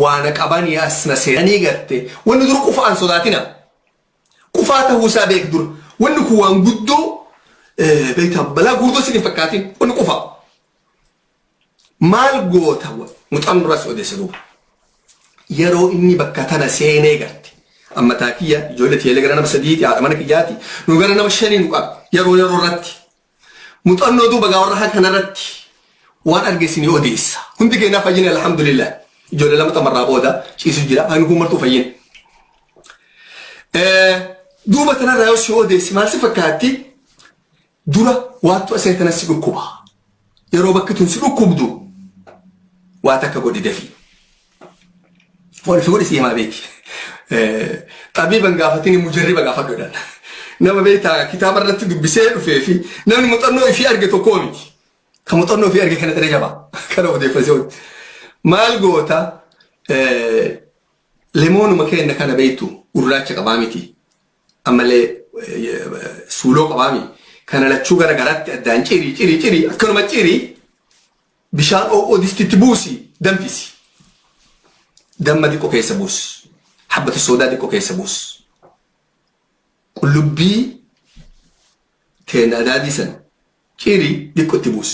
waana qabanii as na seenanii garte wanni dura qufaan sodaatina qufaa ta'uu isaa beek dura wanni kun waan guddoo beektaa balaa guddoo sin hin fakkaatin wanni qufaa maal goota mucaan duras odeessa duuba yeroo inni bakka tana seenee garte amma taakiyya ijoollee tiyyalee gara nama sadiiti haadha mana kiyyaati nu gara nama shanii nu qaba yeroo yeroo irratti Muxannoo duuba gaawwarraa kanarratti waan arge isinii odeessa. Hundi keenyaa fayyine alhamdulillah. Ijoollee lama tamarraa booda ciisu jira. Ani kun martuu fayyine. Duuba tanarraa yoo si odeessi maal si fakkaatti? Dura waattu asee tana si dhukkuba. Yeroo bakki tun si dhukkubdu waa takka godhi dafii. Wal fuudhi siimaa beeki. Xabiiban gaafatini mujarriba gaafadhu jedhan. Nama beektaa kitaaba irratti dubbisee dhufee fi namni muuxannoo ifii arge tokkoo miti. Kan muuxannoo ifii arge kana xiree jabaa. Kana odeeffasee hojii. Maal goota lemoonuma keenya kana beektu gurraacha qabaa miti. Ammallee suuloo qabaa miti. Kana lachuu gara garaatti addaan cirii cirii cirii akkanuma cirii Bishaan oo'oo distitti buusi danfisi. Damma xiqqoo keessa buus. Habbata soodaa xiqqoo keessa buus. Qullubbii teenaa daadii san ciiri xiqqoo itti buus.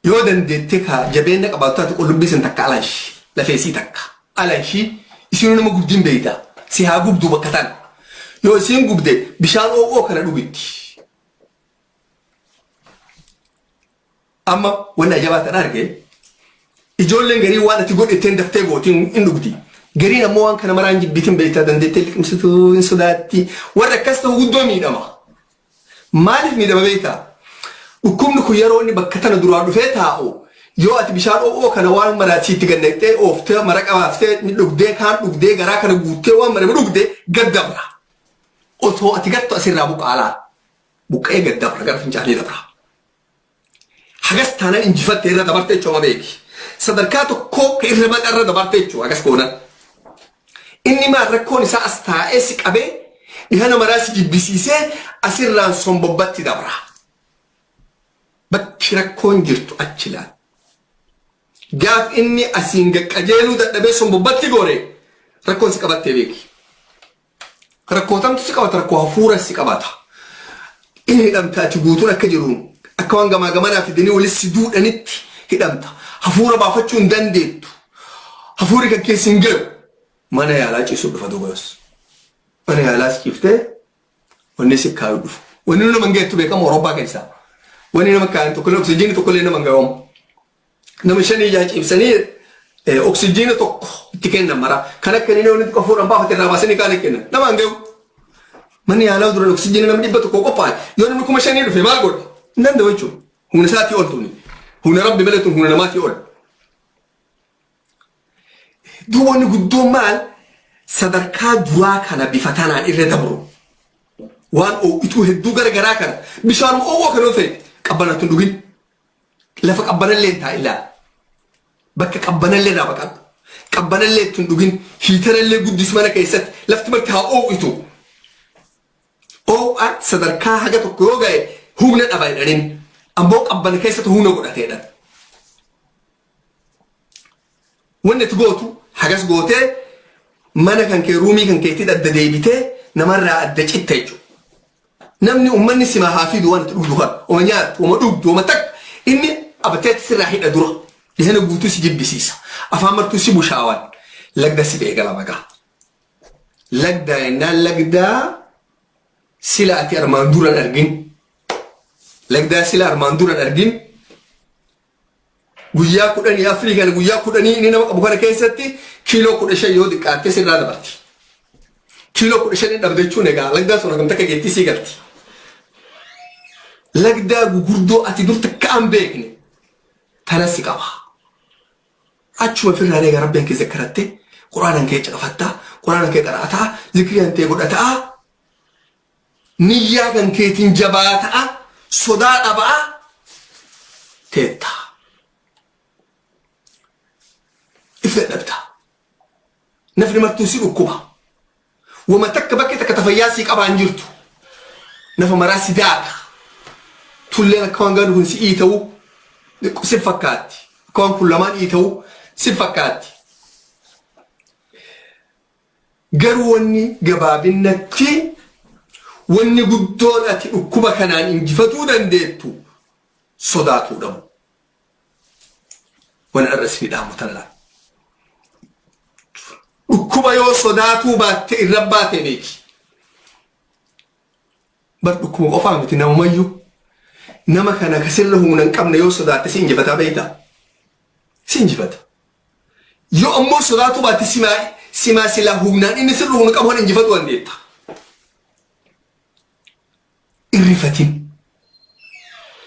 Yoo dandeettee kaa jabeenya qabaatu taate qullubbii san takka alanshi lafeessii takka alanshi isinuu nama gubdiin beeyta si haa gubduu bakka tana. Yoo isiin gubde bishaan oo'oo kana dhugitti. Amma wanni ajabaa tan arge ijoolleen garii waan ati godhetteen daftee gootiin hin dhugdi. Gariin ammoo waan kana maraan jibbiitiin beektaa dandeettee liqimsituu hin sodaatti. Warra akkas ta'u guddoo miidhama. Maaliif miidhama beektaa? Dhukkubni kun yeroo inni bakka tana duraa dhufee taa'u yoo ati bishaan oo'oo kana waan maraa siitti gannaqxee ooftee mara qabaaftee dhugdee kaan dhugdee garaa kana guuttee waan mara dhugde gaddabra. Osoo ati gattu asirraa buqaalaa. Buqqa'ee gad dabra gara fincaanii dabra. Hagas taanan injifatte irra dabarte jechuudha beeki. Sadarkaa tokkoo ka irra maqa irra dabarte jechuudha hagas goonan. Inni maal rakkoon isaa as taa'ee si qabee dhihana maraa si jibbisiisee asirraan sombobbatti dabra. Bakki rakkoon jirtu achi laal. Gaaf inni asiin gaqqajeeluu dadhabee sombobbatti goore rakkoon si qabattee beeki. Rakkootamtu si qabata rakkoo hafuura si qabata. Inni hidhamta ati guutuun akka jiruun akka waan gamaa gamanaa fidanii walis si duudhanitti hidhamta. Hafuura baafachuu hin dandeettu. Hafuurri kan keessa hin galu. Mana yaalaa ciisuu dhufa dubaras. Mana yaalaas ciiftee wanni si kaayuu dhufu. Wanni nama hin gaheettu beekamu Awurooppaa keessaa. Wanni nama kaayan tokkollee oksijiinii tokkollee nama hin gahamu. Nama shanii jaha ciibsanii eh, oksijiina tokko itti kennan mara. Kan akka inni walitti qafuudhaan baafate irraa baasanii kaan hin kennan. Nama hin gahu. Manni yaalaa duraan oksijiina namni dhibba tokko qophaa'e. Yoo namni kuma shanii dhufe maal godhe? Hin danda'u jechuudha. Humna isaatii ol tuni. Humna rabbi malee tun humna namaatii ol. Duuba inni guddoon maal? Sadarkaa duraa kana bifa tanaan irra dabru. Waan oo'ituu hedduu garagaraa kana bishaan oo'oo kan yoo ta'e qabbanatu hin dhugin. Lafa qabbanallee hin taa'in laala. Bakka qabbanallee irraa baqadhu. Qabbanallee itti hin dhugin. Hiitarallee guddis mana keessatti lafti marti haa oo'itu. Oo'aan sadarkaa haga tokko yoo ga'e humna dhaba jedhaniin ammoo qabbana keessatti humna godhateedhan. Wanni itti gootu hagas gootee mana kan kee ruumii kan keetti adda deebitee namarraa adda citta jechuudha. Namni uummanni simaa haa fidu waan itti dhugdu kan oma nyaattu oma dhugdu oma takka inni abateetti sirraa hidha dura dhihana guutuu si jibbisiisa afaan martuu si bushaawaan lagda si beekala bagaa. Lagdaa jennaan lagdaa sila ati armaan duran argin lagdaa sila armaan duran argin Guyyaa kudhanii afrii kana guyyaa kudhanii inni nama qabu kana keessatti kiiloo kudha shan yoo xiqqaatte sirraa dabarti. Kiiloo kudha shan dhabde jechuun egaa lagdaa sun hagam takka geettii sii galti. Lagdaa gugurdoo ati dur takka an beekne tanas si qaba. Achuma firraa egaa rabbiin kee zakkaratte quraanan kee caqafattaa quraanan kee qara'ataa zikriyan tee godhataa Niyyaa kan keetiin jabaata'a, sodaa dhaba'a teetta. If dadhabda. Nafni martuu si dhukkuba. Wama takka bakkee takka tafayyaa sii qabaa hin jirtu. Nafa maraa si daaka. Tulleen akka waan gaadhu kun si ii ta'u si fakkaatti. Akka waan kun lamaan ii ta'u si fakkaatti. Garuu wanni gabaabinnatti wanni guddoon ati dhukkuba kanaan injifatuu dandeettu sodaatuu dhabu. Wan arra isinii dhaamu tana laal. Dhukkuba yoo sodaatuu baatte irra baate beeki. Bar dhukkuba qofaa miti namumayyuu. Nama kana ka sirra humna hin qabne yoo sodaatte si injifataa beektaa? Si injifata. Yoo ammoo sodaatuu baatte simaa simaa silaa humnaan inni sirri humna qabu kan injifatu dandeetta. Irrifatin.